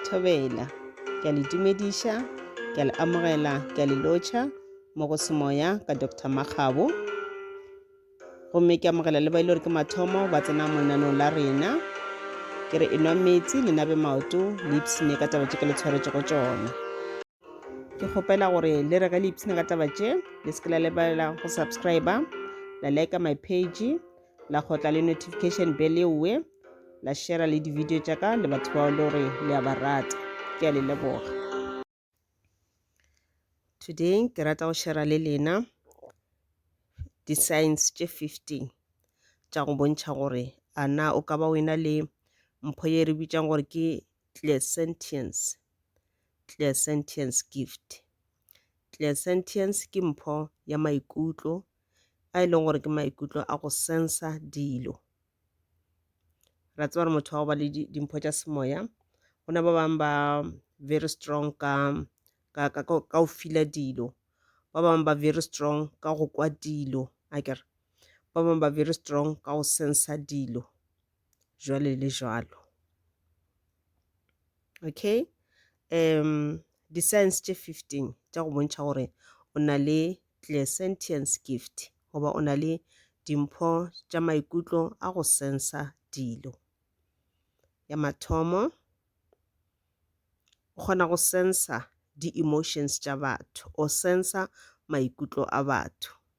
Thobela. Ke a le dumediša, ke a le amogela, ke a le lotšha mo go semoya ka Dr. Makgabo. Gomme ke amogela le ba ile gore ke mathomo ba tsena mo lenanong la rena. Ke re enwa metsi le nabe maoto le ipsine ka taba tše ke le tshwaretšego tšona. ke kgopela gore le re ge le ipshina ka taba tše le se ke la lebelela go subscribe la like my page la kgotla le notification bell eoe la share le di-video tša ka le batho bao le gore le a ba rata ke a le leboga today ke rata go share le lena di-science tše 15 tša go bontšha gore a na o ka ba o ena le mpho ye re bitsang gore ke clairsentience Clairsentience Gift. Clairsentience ke mpho ya maikutlo a e leng gore ke maikutlo a go sensa dilo. Ra tseba gore motho wa go ba le dimpho tša semoya go na ba bangwe ba very strong ka ka ka ka go fila dilo ba bangwe ba very strong ka go kwa dilo akere ba bangwe ba very strong ka go sensa dilo jwale le jwalo Okay? Um, di-signs tše 15 tša go bontšha gore o na le clairsentience gift goba o na le dimpho tša maikutlo a go sensa dilo. Ya mathomo, o kgona go sensa di-emotions tša batho, o sensa maikutlo a batho.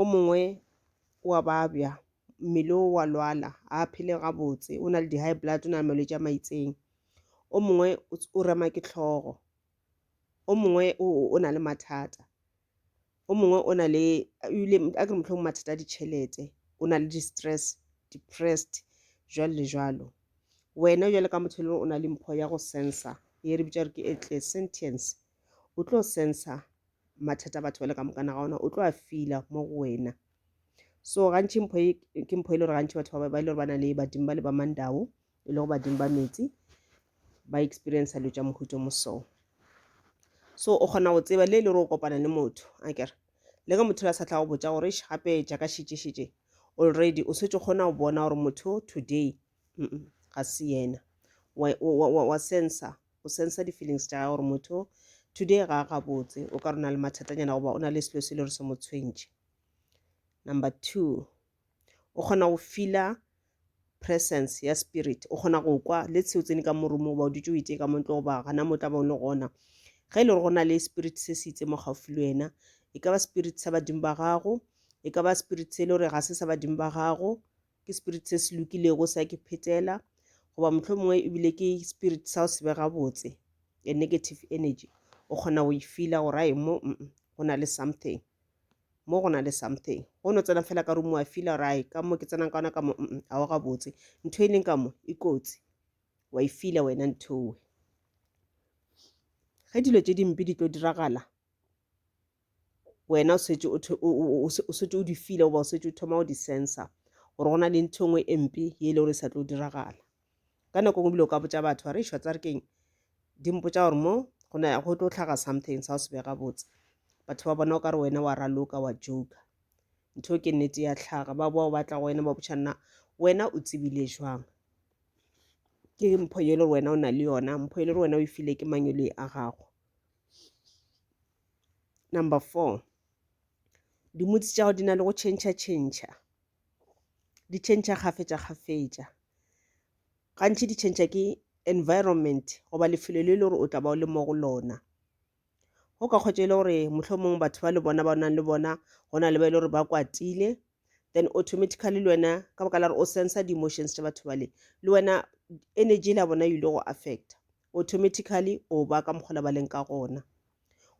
o mongwe wa babja mmele o wa lwala a phele gabotse o na le di-high blood o na le malwetse a maitseng o mongwe o rema ke tlhogo o mongwe o na le mathata o mongwe o na le ebile a ke motlhong mathata a ditšhelete o na le di-stress depressed jwalo le jwalo wena jwale ka motho e le o na le mpho ya go sensa e re bitša re ke etle sentience o tlo sensa mathata batho ba le ka mokana ga ona o tlo a fila mo go wena so gantši mpho e ke mpho e le gore gantši batho ba ba e le gore ba na le badimo ba le ba mandao e le go badimo ba metsi ba experience dilo tša mohuto mo so so o kgona go tseba le e le gore o kopana le motho a kere le ka motho la sa tla go botsa gore gape jaaka šetšešetše already o setse kgona go bona gore motho today mm -mm, ga se yena wa, wa, wa, wa, wa sensa o sensa di-feelings tša gore motho today ga a gabotse o ka rona le mathatanyana goba o na le selo se le gore se mo tshwentše number two o kgona go fila presence ya spirit o kgona go kwa le tsheo tsene ka morumo goba o dutse o itee ka montlo goba gana mo tla ba o le gona ge e le gore go na le spirit se se itse mo gaufi le wena e ka ba spirit sa badimo ba gago e ka ba spirit se e le gore ga se sa badimo ba gago ke spirit se se lokilego sa ke phetela goba motlho mongwe ebile ke spirit sa o se bega botse a negative energy o kgona go e fila gore ae mo go na le something mo go na le something go no tsena fela ka rumo wa fila gore ae ka mo ke tsenang ka ona ka mo a wa gabotse ntho e leng ka mo e kotsi wa e fila wena nthowe ge dilo tse dimpe di tlo diragala wena o setse o setse o di file goba o setse o thoma go di sensa gore go na le ntho e nngwe e mpe ye e le gore e sa tlo diragala ka nako ngwe bile o ka botsa batho ba re išwa tsa re keng di mpotsa gore mo go na go tlo tlhaga something sa o se bega botse batho ba bona o ka re wena wa raloka wa joka ntho ke nnete ya tlhaga ba boa o batla go wena ba botšha nna wena o tsebile jwang ke mpho ye le gore wena o na le yona mpho ye le gore wena o e file ke mangelo e a gago number four dimutsi tša go di na le go tšhentšha tšhentšha di tšhentšha kgafetša kgafetša gantši di tšhentšha ke environment goba lefelo le le gore o tla ba o le mo go lona go ka kgwetša e le gore motlho mongwe batho ba le bona ba nang le bona go na le ba e le gore ba kwatile then automatically le wena ka baka la gore o sensa di-emotions tša batho bale le wena energy la bona you ile go affecta automatically o ba ka mokgola ba leng ka gona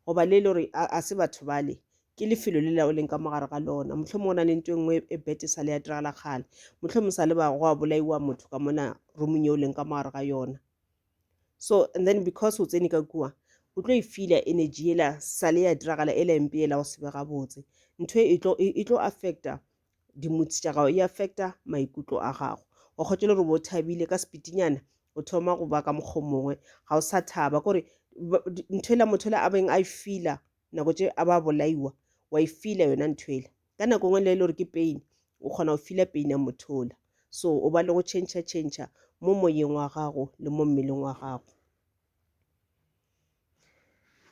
goba le e le gore a se batho bale ke lefelo le la o leng ka mogare ga lona motlho mo go na le nto e nngwe e bete sa le ya diragala kgale motlho mo sa le ba go a bolaiwa motho ka mona romong e o leng ka mogare ga yona so and then because o tsene ka kua o tlo e fila energy ela sale ya diragala ela empe ela go sebe gabotse ntho e, e tlo e, e tlo affecta dimutsi tša gago e affecta maikutlo a gago wa kgotse le gore bo thabile ka sepitinyana o thoma go ba ka mokgwa mongwe ga o sa thaba kore ntho ela motho ela a beng a e fila nako tše a ba bolaiwa wa e fila yona ntho ela ka nako ngwe le e le gore ke pain o kgona go fila pain ya motho ola so o ba le go change change mo moyeng wa gago le mo mmeleng wa gago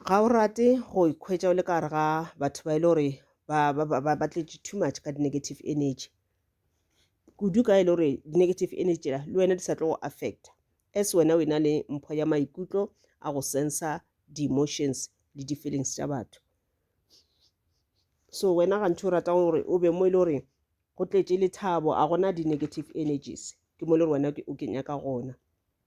ga o rate go ikhwetša o le ka gare ga batho ba e le gore ba, ba, ba, ba, ba tletše too much ka di-negative energy kudu ka e le gore di-negative energy tšela le wena di sa tlo go affecta as wena o e na le mpho ya maikutlo a go sensa di-emotions le di-feelings tša batho so wena gantši o rata gore o be mo e le gore go tletše lethabo a gona di-negative energies ke mo e le gore wena ke- o ke nyaka gona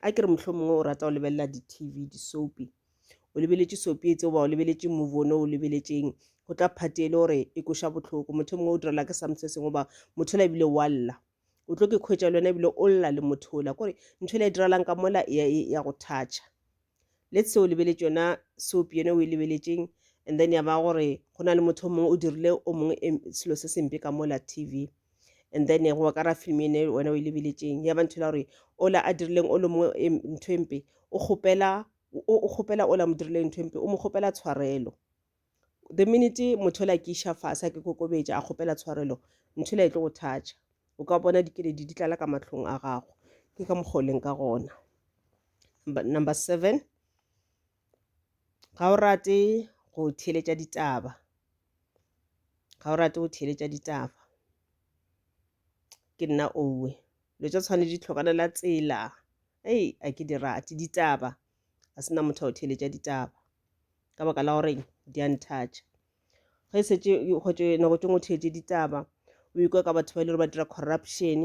a ke re mohlomongwe o rata go lebelela di-tv disopi o lebeletše sopi etse goba o lebeletše movone o lebeletšeng go tla phate e le gore e koša bohloko motho mongwe o direla ke some se sengwe goba motho la ebile wa lla o tlo ke kgwetša le wena ebile o lla le motho ola kore ntho e le e diralang ka mola ya go thatšha let's say o lebeletše yona soap yone o e lebeletšeng and then ya ba gore go na le motho o mongwe o dirile o mongwe selo se sempe ka mola tv and then go ka ra film ene wena o e lebeletšeng ya ba ntho la gore ola a dirileng o le mongwe ntho e mpe o kgopela o kgopela ola mo dirileng ntho e mpe o mo kgopela tshwarelo the minute motho yola ke iša fase a ke kokobetša a kgopela tshwarelo ntho yola e tlo go thatša o ka bona dikeledi di tlala ka matlhong a gago ke ka mokgwa o leng ka gona number, number seven ga o rate go theeletša ditaba ga o rate go theeletša ditaba ke nna owe dilo tša tshwane di tlhokanela tsela ei a ke di rate ditaba ga se na motho o theeletša ditaba ka baka la gore di a nthatša ge e setse kgotso nako tšengwe o theetse ditaba o ikwa ka batho ba e le gore ba dira corruption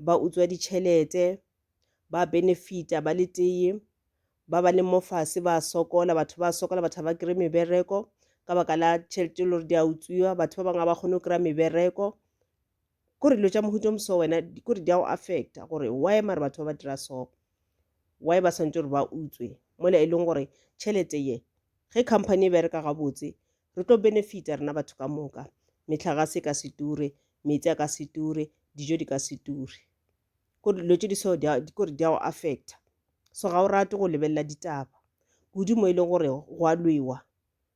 ba utswa ditšhelete ba benefita ba le teye ba ba le mofase ba sokola batho ba sokola batho ba kry mebereko ka baka la tšhelete e le gore di a utswiwa batho ba bangwe ba kgone go kry-a mebereko kore dilo tša mohuto moso wena kore di a go affecta gore why mare batho ba ba dira so why ba swantse gore ba utswe mola e leng gore tšhelete ye ge company e bereka gabotse re tlo benefita rena batho ka moka metlhagase e ka se ture meetse a ka se ture dijo di ka se ture kore dilo tše di so kore di a go affecta so ga o rate go lebelela ditaba kudu mo e leng gore go a lwewa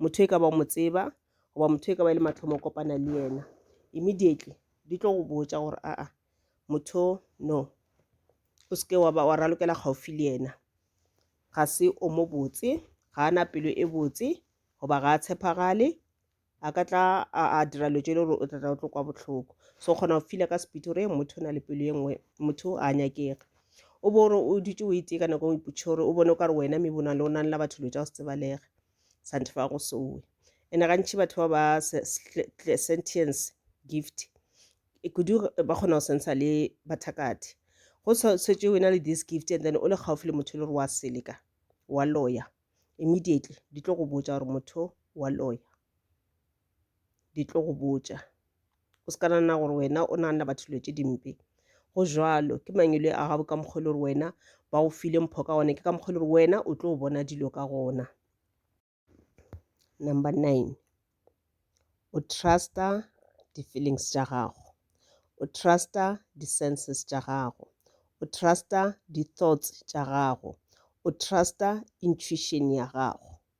motho e ka ba o mo tseba goba motho e ka ba e le mathomo o kopana le yena immediately di tlo go botša gore aa motho no o seke wa ralokela kgaofi le yena ga se o mo botse ga a na pelo e botse goba ga a tshepagale a ka tla a dira lo jele gore o tlatla o tlo kwa botlhoko so kgona go fila ka sepiti gore motho o na le pelo e nngwe motho a nyakega o bo gore o dutše o itee ka nako o ipotše gore o bone o ka re wena mebona le o nang la batho dilo tša go se tsebalege santhe fa go sowe ene gantši batho ba ba sentience gift e kudu ba kgona go sensa le bathakati go setswe wena le this gift and then o le gaufi le motho e le gore wa seleka wa loya immediately di tlo go botsa gore motho wa loya di tlo go botša o se ka nana gore wena o naganela batho dilo tše dimpe go jalo ke mangwele a gago ka mokgwa e le gore wena ba go file mpho ka gone ke ka mokgwa e le gore wena o tlo bona dilo ka gona number nine o trusta di-feelings tša gago o trusta di-senses tša gago o trusta di-thoughts tša gago o trusta intuition ya gago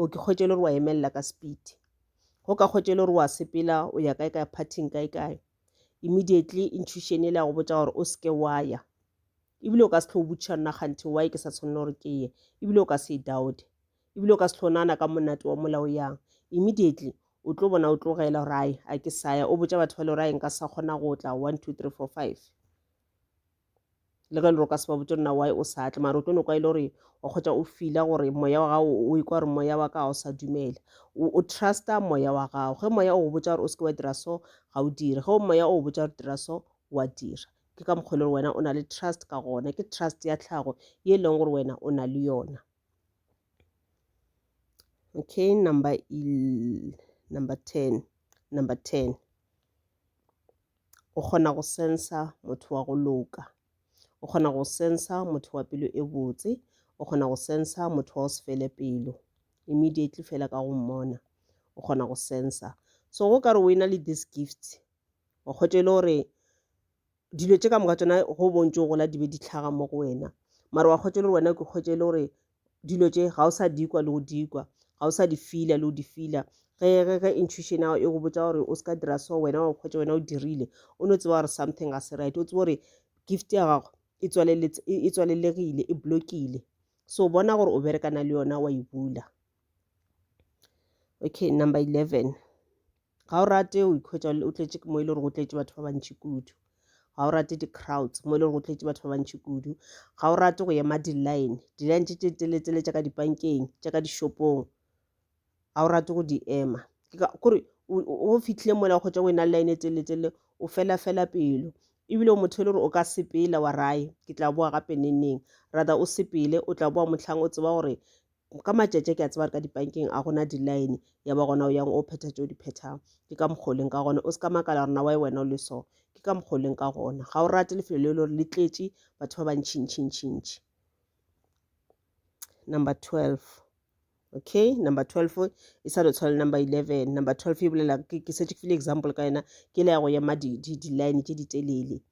o ke kgwetše le gore wa emelela ka speed go ka kgwetše le gore wa sepela o ya kae kae parting kae kae immediately intuition e le ya go botsa gore o seke wa ya ebile o ka se tlho o botšiša nna kganthe why ke sa tshwanela gore ke ye ebile o ka se e doubte ebile o ka se tlho nana ka monate wa molao yang immediately o tlo bona o tlogela gore ai a ke saya o botsa batho ba le gore a nka sa kgona go tla one two three four five le ge le roka se ba botse rena why o sa tle mara o tlo no kwa e le gore wa kgotsa o fila gore moya wa gago o ikwa gore moya wa ka ga o sa dumela o trusta moya wa gago ge moya o go botsa gore o seke wa dira so ga o dire ge moya o go botsa gore dira so wa dira ke ka mokgwa e le gore wena o na le trust ka gona ke trust ya tlhago ye e leng gore wena o na le yona okay number number ten number ten o kgona go sensa motho wa go loka o kgona go sensa motho wa pelo e botse o kgona go sensa motho wa go se fele pelo immediately fela ka go mmona o kgona go sensa so go ka re o e na le this gift o kgotse e le gore dilo tše ka moka tsona go bontse o gola di be di tlhaga mo go wena mara wa kgotse e le gore wena ke kgotse e le gore dilo tše ga o sa dikwa le go dikwa ga o sa di fila le go di fila ge ge ge intuition ao e go botsa gore o se ka dira so wena wa kgwetsa wena o dirile o no tseba gore something ga se right o tseba gore gift ya gago e, e tswalelegile e blokile so bona gore o berekana le yona wa e bula okay number 11 ga o rate o ikhwetsa o tletše mo e le gore go tletše batho ba bantši kudu ga o rate di-crowds mo e le gore go tletše batho ba bantši kudu ga o rate go ema di-line di-line tše tše teletsele tša ka dipankeng tša ka dishopong ga o rate go di ema kore o fitlhile mola o kgotsa go ena line e teletsele o fela fela pelo ebile o motho e le gore o ka sepela wa raye ke tla boa gape neneng rather o sepele o tla boa motlhang o tseba gore ka matšatši ke a tseba re ka dipankeng a gona di-line ya ba gona o yang o phetha tšeo di phethago ke ka mokgwa o leng ka gona o se ka makala rona wa e wena o le so ke ka mokgwa o leng ka gona ga o rate lefelo le e le gore le tletše batho ba bantšhintšhintšhintšhi number twelve okay number twelve e sa lo tshwana le number eleven number twelve e bolela ke setse ke file example ka yena ke le ya go ema di-line tše di telele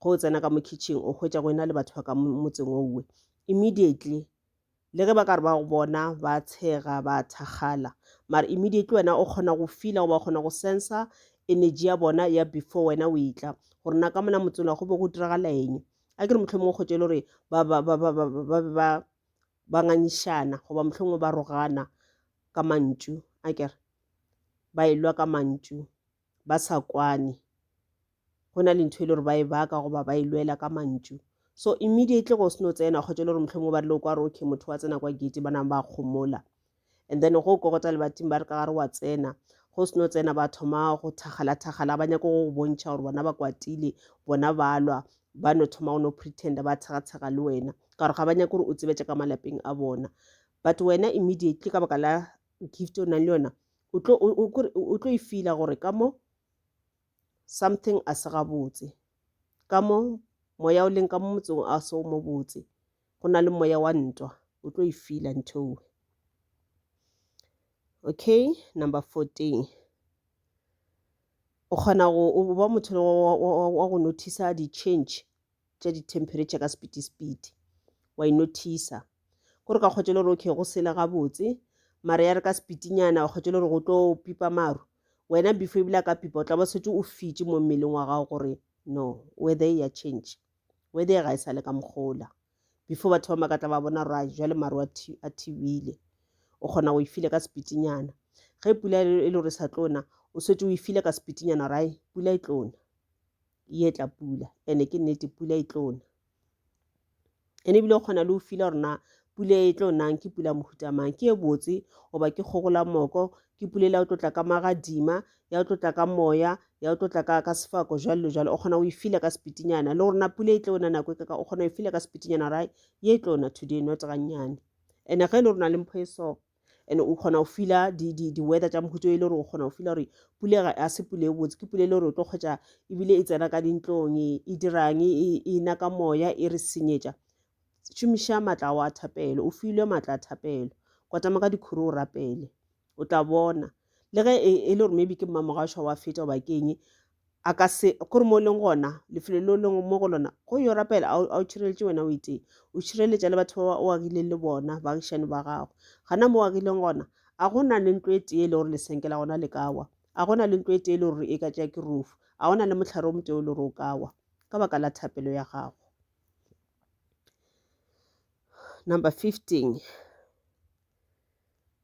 ge o tsena ka mo kitchen o hwetša go ena le batho ba ka motseng owe immediately le ge ba ka re ba go bona ba tshega ba thakgala mara immediately wena o kgona go fila goba o kgona go sensa energy ya bona ya before wena o etla gore na ka mona motsela go be go diragala eng a ke re motlho mongwe kgotse e le gore ba be ba ba ngangišana goba motlho mongwe ba rogana ka mantšu a kere ba elwa ka mantšu ba sa kwane go na le ntho e le gore ba e baka goba ba e lwela ka mantšu so immediately go seno tsena kgotsa e le gore motlho mo ba rile kwa re okay motho wa tsena kwa gate ba nang ba kgomola and then go kokota lebating ba re ka gare wa tsena go seno tsena ba thoma go thakgala-thakgala ba nyako go bontšha gore bona ba kwatile bona ba lwa ba no thoma go no pretenda ba tshega-tshega le wena ka gore ga ba nyako gore o tsebetse ka malapeng a bona but wena immediately ka baka la gift o nang le yona o tlo e feela gore ka mo something a se gabotse ka mo moya o leng ka mo motseng a se o mo botse go na le moya wa ntwa o tlo e fila ntho okay number 14 o kgona go ba motho wa go notice di-change tša di-temperature ka sepiti-sepiti wa inothisa gore ka kgwetšele gore okay go sele gabotse mara ya re ka sepitinyana wa kgwetšele gore go tlo pipa maru wena before ebile a ka pipa o tla ba setse o fitše mo mmeleng wa gago gore no weather e ya change weather ga e sa le ka mokgola before batho ba makatla ba bona ra jale maru a thibile o kgona go e file ka sepitinyana ge pula e le gore e sa tlona o setse o e file ka sepitinyana rai pula e tlona ye tla pula ene ke nnete pula e tlo na ene ebile o kgona le go fila gore na pula e tlo nang ke pula mohutamang ke e botse goba ke kgogola moko ke pula le ya o tlotla ka magadima ya o tlotla ka moya ya o tlotla ka ka sefako jalo le jalo o kgona go e fila ka sepitinyana le gore na pula e tlo na nako e kaka o kgona go e fila ka sepitinyana ra ye e tlo na today not gannyane ene ge e le gore na le mpho e so and o kgona go fila di-weather tša mohuto e le gore o kgona go fila gore pule ga se pule e botse ke pule e le gore o tlo kgwetsa ebile e tsena ka dintlong e, e dirang e, e, e na ka moya e re senyetša šomiša maatla ao a thapelo o filwe maatla a thapelo kwatama ka dikhuru o rapele o tla bona le ge e, e le gore maybe ke mmamogašwa wa feta goba keng A ka se go re mo o leng gona, lefelo le o leng mo go lona, go yo rapela, a o- a o tšhireletše wena o itee. O tšhireletša le batho ba o agileng le bona, baagišani ba gago. Gana mo o agileng gona, a go na le ntlo e tee e le gore lesenke la gona le ka wa? A go na le ntlo e tee e le gore e ka tšea ke rufu? A go na le mohlare o motee o le gore o ka wa? Ka baka la thapelo ya gago. Number 15.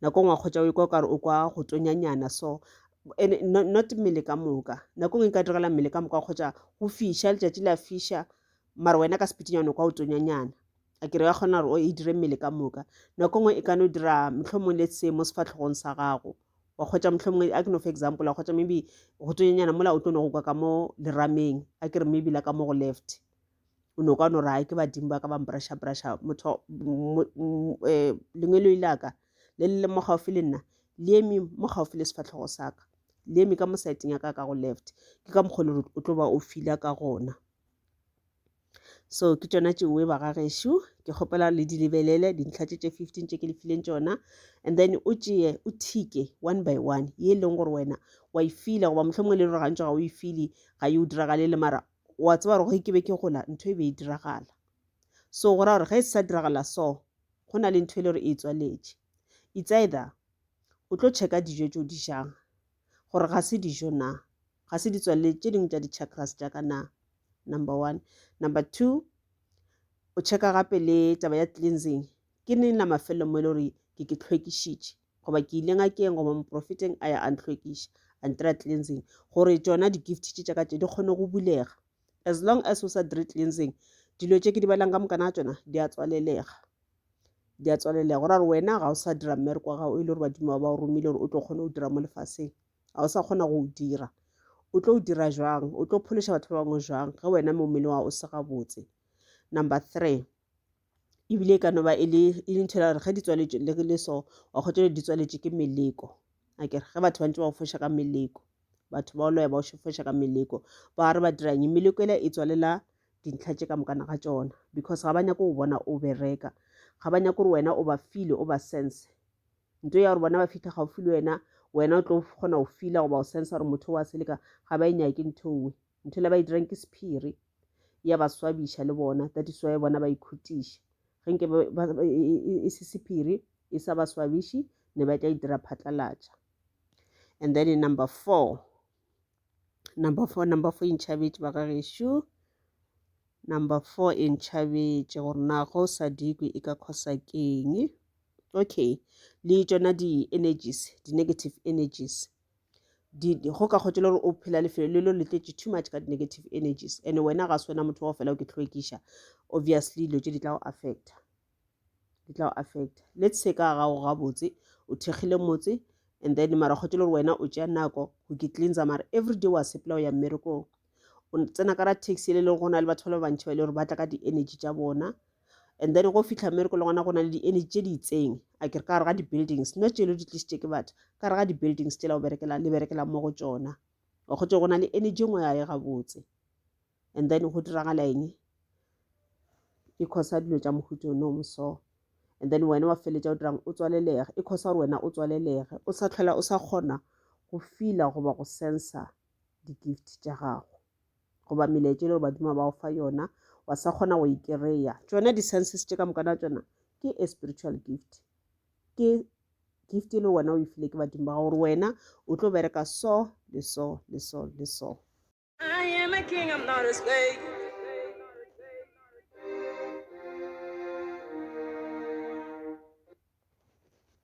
nako ngwe kgotsa o ikwa kare o kwa go tonyanyana so and not, not mmele ka moka nako ngwe e ka direla mmele ka moka kgotsa go fiša letšatši la fiša mara wena ka sepitinyana o kwa o tonyanyana a kere ya kgona gore o e dire mmele ka moka nako ngwe e ka no dira mohlomong le se mo sefatlhogong sa gago wa kgotsa mohlomongwe a ke no fa example wa kgotsa maybe go tonyanyana mola o tlo no go kwa ka mo lerameng a kere maybe la ka mo go left o no ka no re ke badimo ba ka ba mprashaprasha motho eh, lengwelo ile ka le le le mo gaufi le nna le eme mo gaufi le sefatlhogo sa ka le eme ka mo saeteng ya ka ka go left ke ka mokgwa le o tlo ba o fila ka gona so ke tšona tšeoe bagagešo ke kgopela le di lebelele dintlha tše tše fifteen tše ke le fileng tšona and then o tšee o thike one by one ye e leng gore wena wa e fila goba mohlomongwe le re gantšwa ga o e file ga e o diragale le mara wa tseba gore ge ke be ke gola ntho e be e diragala so go ra gore ge e sa diragala so go na le ntho e le gore e tswaletše it's either o tlo checka dijo tse o di jang gore ga se dijo na ga se di tswalele tše dingwe tša di-chakras tša ka na number one number two o checka gape le taba ya cleansing ke neng la mafelelo mo e le gore ke ke tlhwekišitše goba ke ile ngakeng goba moprofeteng a ya a ntlhwekiša a ntira cleansing gore tšona di-gift tše tša ka tše di kgone go bulega as long as o sa dire cleansing dilo tše ke di balang ka mokana ga tšona di a tswalelega di a tswalelega gore gore wena ga o sa dira mmereko wa gago e le gore badimo ba ba o romile gore o tlo kgone go dira mo lefaseng ga o sa kgona go o dira o tlo o dira jwang o tlo phološa batho ba bangwe jwang ge wena mo mmele wa o se gabotse number three ebile e ka no ba e le e le ntho e gore ge di tswaletše le le so wa kgotsa le di tswaletše ke meleko a ke re ge batho ba ntse ba foša ka meleko batho ba loya ba foša ka meleko ba re ba dirang meleko ela e tswalela dintlha tše ka mokana ga tsona because ga ba nyako go bona o bereka ga ba nyako gore wena o ba file o ba sense nto ya gore bona ba fitlha gaufi le wena wena o tlo kgona go fila goba o sense gore motho wa seleka ga ba e nyake ntho nngwe Ntho le ba e dirang ke sephiri. Ya ba swabiša le bona. That is why bona ba ikhutiša. Ge nke e se sephiri e sa ba swabiši ne ba tla e dira phatlalatša. And then in number four. Number four, number four e ntšhabetše ba ga gešo. Number four e ntšhabetše gore na go sa dikwe e ka khosa keng. Okay. Le tšona di-energies, di-negative energies. di, di, go ka kgotšela gore o phela lefelo le lo le tletše too much ka di-negative energies and wena ga se wena motho wa fela o ke tlhoekiša obviously dilo tše di tla go affecta di tla go affecta let's se ka gago gabotse o thekgile motse and then mara kgotšele gore wena o tšea nako go ke cleansa mara every day wa sepela o ya mmerekong o tsena ka ra taxi le leng go na le batho ba le bantšhi ba e le gore ba tla ka di-energy tša bona and then go fitlha mmereko le gona go na le di-energy tše di itseng a kere ka gare ga di-buildings not tšelo di tlisitše ke batho ka gare ga di-buildings tšela o berekela le berekela mo go tšona wa kgotse go na le energy ngwe ya ye gabotse and then go diragala eng e khosa dilo tša mohuto no moso and then wena wa feletša o dirang o tswalelega e khosa gore wena o tswalelege o sa tlhola o sa kgona go fila goba go sensa di-gift tša gago goba melaetša e le gore badimo ba o fa yona wa sa kgona go e kry-a tšona di-senses tše ka moka na tšona ke a spiritual gift ke gift e le wena o e file ke badimo ba gago gore wena o tlo bereka so le so le so le so I am a king, I'm not a slave.